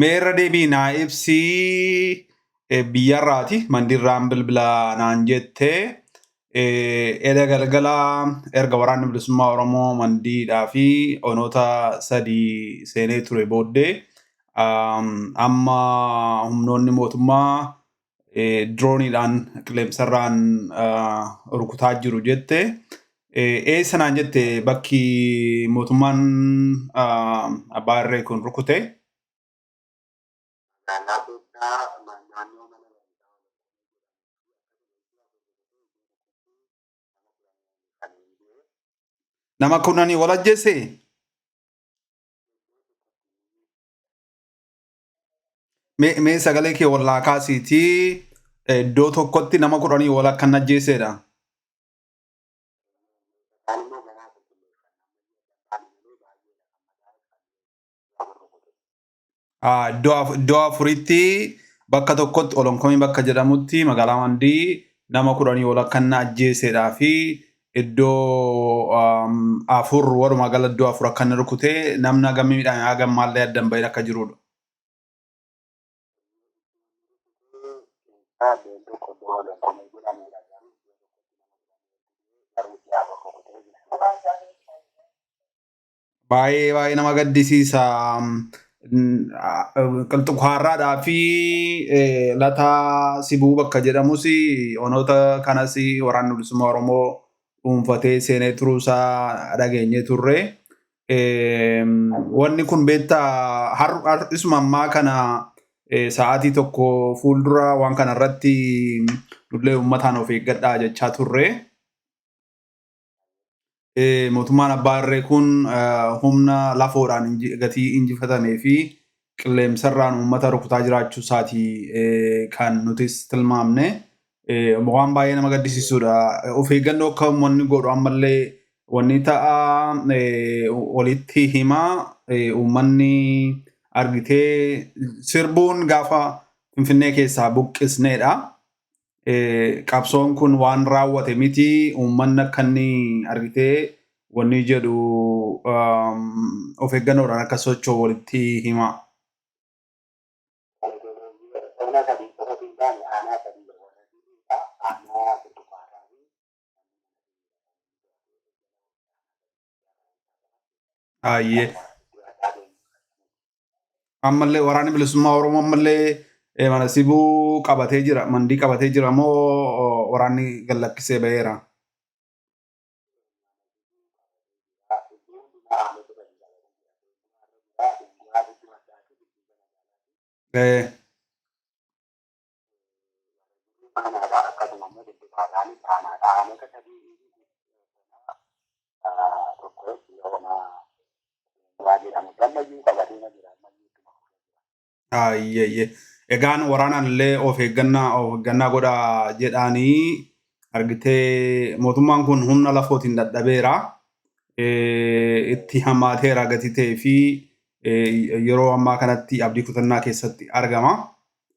Mee irra deebii naa ibsii biyyarraati mandirraan bilbilaa naan jette eda galgala erga waraanni bilisummaa Oromoo mandiidhaa fi onoota sadii seenee ture booddee amma humnoonni mootummaa dirooniidhaan qilleensarraan rukutaa jiru jette. Eessa naan jette bakki mootummaan abbaa irree kun rukute. Magaalaa keessaa naannoo mana Nama kurnanii wal ajjeese. Mee mee sagalee kee ol naa kaasiitii eh, iddoo tokkotti nama kudhanii ol akka hin ajjeeseedha. Ah, Iddoo af- iddoo afuritti bakka tokkotti olonkomii bakka jedhamutti magaalaa Mandii nama kudhanii ol akka hin ajjeeseedhaa fi Iddoo afur walumaa gala iddoo afur akka inni rukute namni hagam miidhame hagam maallee adda hin bahin akka jiruudha. Baay'ee baay'ee nama gaddisiisa. Qilxukaarraadhaa fi lataa sibuu bakka jedhamus onoota kanas waraanni bilisummaa Oromoo dhuunfatee seenee turuusaa dhageenyee turre. Wanni kun beektaa har'isuma ammaa kana sa'aatii tokko fuuldura waan kana irratti nullee uummataan of eeggadhaa jechaa turre. Mootummaan abbaa irree kun humna lafoodhaan gatii injifatamee fi qilleensarraan uummata rukutaa jiraachuu isaati kan nutis tilmaamne. Waan baay'ee nama gaddisiisudha. Of eeggannoo akka uummanni godhu ammallee wanni ta'a walitti hima uummanni argitee sirbuun gaafa Finfinnee keessaa buqqisneedha. qabsoon kun waan raawwate miti uummanni akka inni argitee wanni jedhu of eeggannoodhaan akka socho'u walitti himaa. Ona sadii qofa osoo hin taane aanaa sadii warra dhiiraa aanaa burtukaarraa fi Ayyee. Ammallee waraanni bilisummaa Oromoo ammallee eh, mana sibuu qabatee jira. Mandii qabatee jira moo oh, waraanni gallakkisee baheera? Eh, Ayyee egaan waraanaan illee of eeggannaa of eeggannaa godha jedhaanii argitee mootummaan kun humna lafootiin dadhabeera eh, itti hammaateera gatii ta'ee fi eh, yeroo ammaa kanatti abdii kutannaa keessatti argama.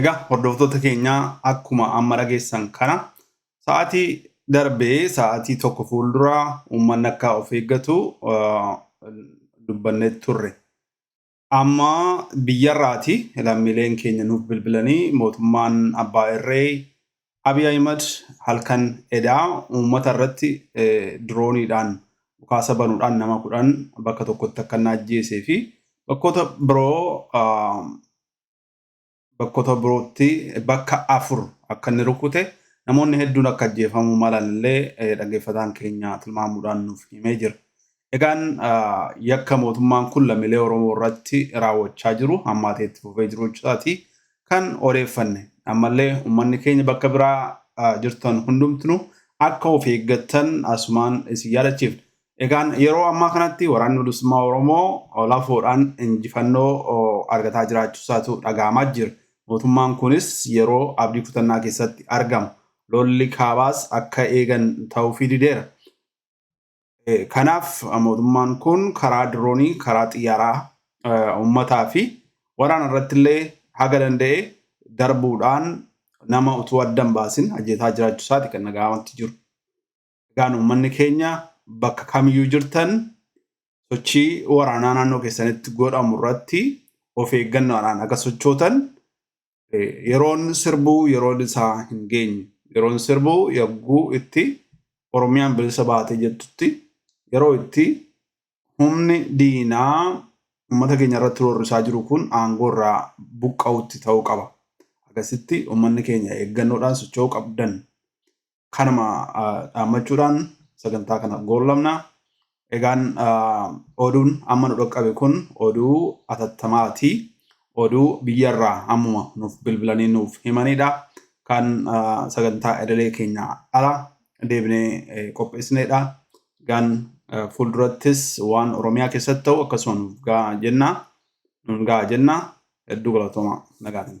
Egaa hordoftoota keenyaa akkuma amma dhageessan kana sa'aatii darbee sa'aatii tokko fuuldura uummanni akka of eeggatu dubbannee turre. Amma biyyarraati lammiileen keenya nuuf bilbilanii mootummaan abbaa irree Abiy Ahimad halkan edaa uummata irratti dirooniidhaan dhukaasa banuudhaan nama kudhan bakka tokkotti akka inni ajjeesee fi bakkoota biroo bakkoota birootti bakka afur akka inni rukute namoonni hedduun akka ajjeefamuu malan illee dhaggeeffataan keenya tilmaamuudhaan nuuf himee jira. Egaan yakka mootummaan kun lammiilee Oromoo irratti raawwachaa jiru hammaatee itti fufee jiru jechuusaati kan odeeffanne. Ammallee uummanni keenya bakka biraa jirtan hundumtinu akka of eeggattan asumaan isin yaadachiifna. Egaan yeroo ammaa kanatti waraanni bilisummaa Oromoo lafoodhaan injifannoo argataa jiraachuusaatu dhaga'amaa jira. Mootummaan kunis yeroo abdii kutannaa keessatti argama. Lolli kaabaas akka eegan ta'uufii dideera. Kanaaf mootummaan kun karaa diroonii, karaa xiyyaaraa uummataa fi waraana irratti illee haga danda'e darbuudhaan nama utuu adda hin baasin ajjeesaa jiraachuu isaati kan dhaga'amatti jiru. Egaan uummanni keenya bakka kamiyyuu jirtan sochii waraanaa naannoo keessanitti godhamu irratti of eeggannoodhaan akka sochootan Yeroon sirbuu yeroon isaa hin geenye. Yeroon sirbuu yagguu itti Oromiyaan bilisa baatee jettutti yeroo itti humni diinaa uummata keenya irratti roorrisaa jiru kun aangoo irraa buqqa'utti ta'uu qaba. Akkasitti uummanni keenya eeggannoodhaan socho'uu qabdan. kanuma dhaammachuudhaan sagantaa kana goollamna. Egaan oduun amma nu dhaqqabe kun oduu atattamaati. Oduu biyyarraa ammuma nuuf bilbilanii nuuf himanidha. Kan sagantaa idilee keenya ala deebinee qopheessinedha. Egaan fuuldurattis waan Oromiyaa keessatti ta'u akkasuma nuuf ga'a jenna. Nuun ga'a jenna. Hedduu galatooma nagaadhaan.